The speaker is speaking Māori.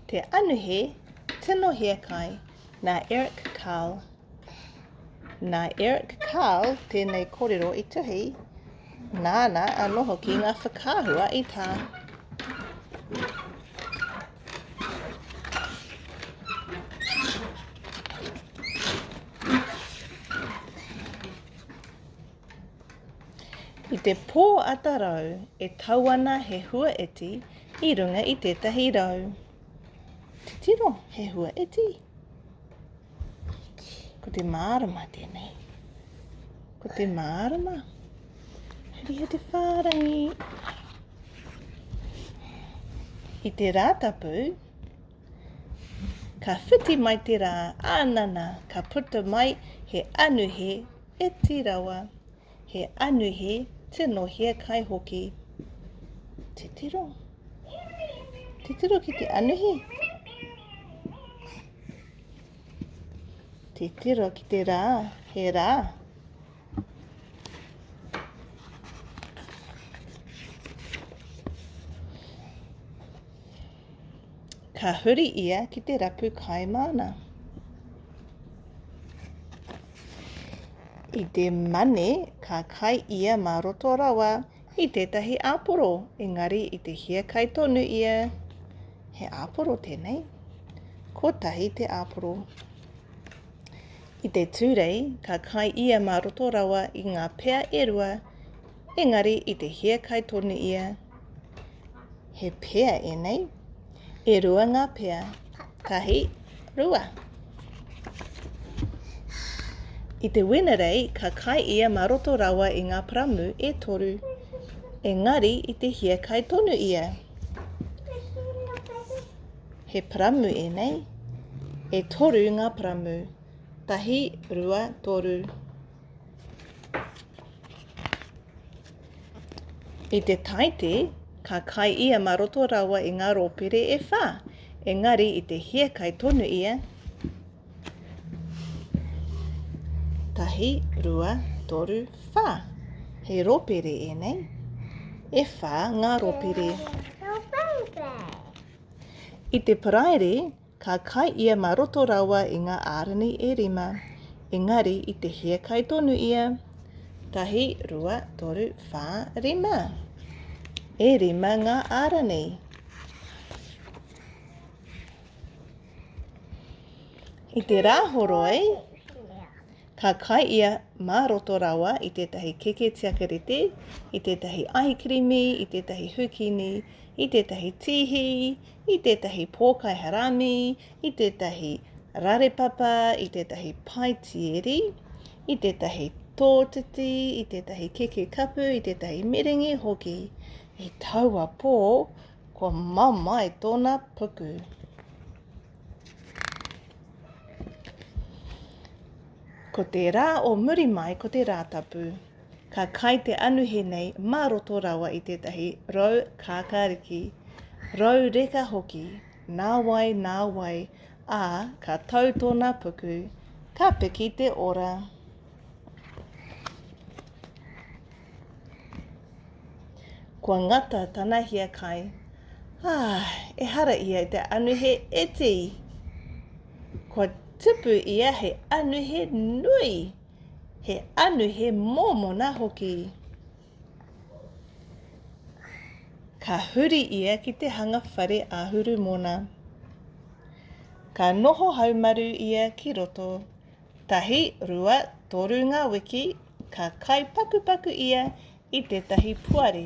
Te Anuhe Tino Hiakai nā Eric Carle Nā Eric Carle tēnei kōrero i tuhi, nāna anō hoki ngā whakaahua i tā. I te pō atarau e tau ana he hua eti i runga i tētahi rau. Titiro, he hua eti. Ko te mārama tēnei. Ko te mārama. Heri he te whārangi. I te rātapu, ka whiti mai te rā, ānana, ka puta mai he anuhe He ti rawa, he anuhe tino hiakai hoki. Titiro. Titiro ki te anuhe. Titiro ki te rā, he rā. Ka huri ia ki te rapu kai māna. I te mane, ka kai ia mā roto rawa i tētahi āporo, engari i te hia kai tonu ia, he āporo tēnei, kotahi te āporo. I te tūrei, ka kai ia mā roto rawa i ngā pea e rua, Engari i te hiakai tonu ia, He pea enei? E rua nga pea, tahi, rua. I te Wenerei ka kai ia ma roto rawa i nga paramu e toru. Engari i te hiakai tonu ia, He paramu enei? E toru nga paramu, tahi, rua, toru. I te taite, ka kai ia ma roto rawa i nga ropere e wha, engari i te hiekai tonu ia, tahi, rua, toru, wha, he ropere enei, e wha nga ropere. I te paraire, Ka kai ia mā roto rawa i ngā ārani e rima, engari i te hē kai tonu ia, tahi, rua, toru, whā, rima. E rima ngā ārani. I te rā horoi, ka kai ia mā roto rawa i tētahi keke tiakarete, i tētahi ahi kirimi, i tētahi hukini, i tētahi tīhi, i tētahi pōkaiha rānī, i tētahi rarepapa, i tētahi paitieri, i tētahi tōtiti, i tētahi keke kapu, i tētahi merengi hoki. I taua pō, kua mamae tōna puku. Ko te rā o muri mai, ko te rā tapu. Ka kai te anuhe nei mā roto rawa i tētahi rau kākāriki, rau reka hoki, nā wai, nā wai, ā, ka tau tōna puku, ka piki te ora. Kua ngata tana hiakai. Ā, ehara ia i te anuhe iti. Kua tupu ia hei anuhe nui. He anu, he mōmona hoki. Ka huri ia ki te hanga whare āhuru mōna. Ka noho haumaru ia ki roto. Tahi, rua, toru ngā wiki, ka kai pakupaku ia i tētahi puare.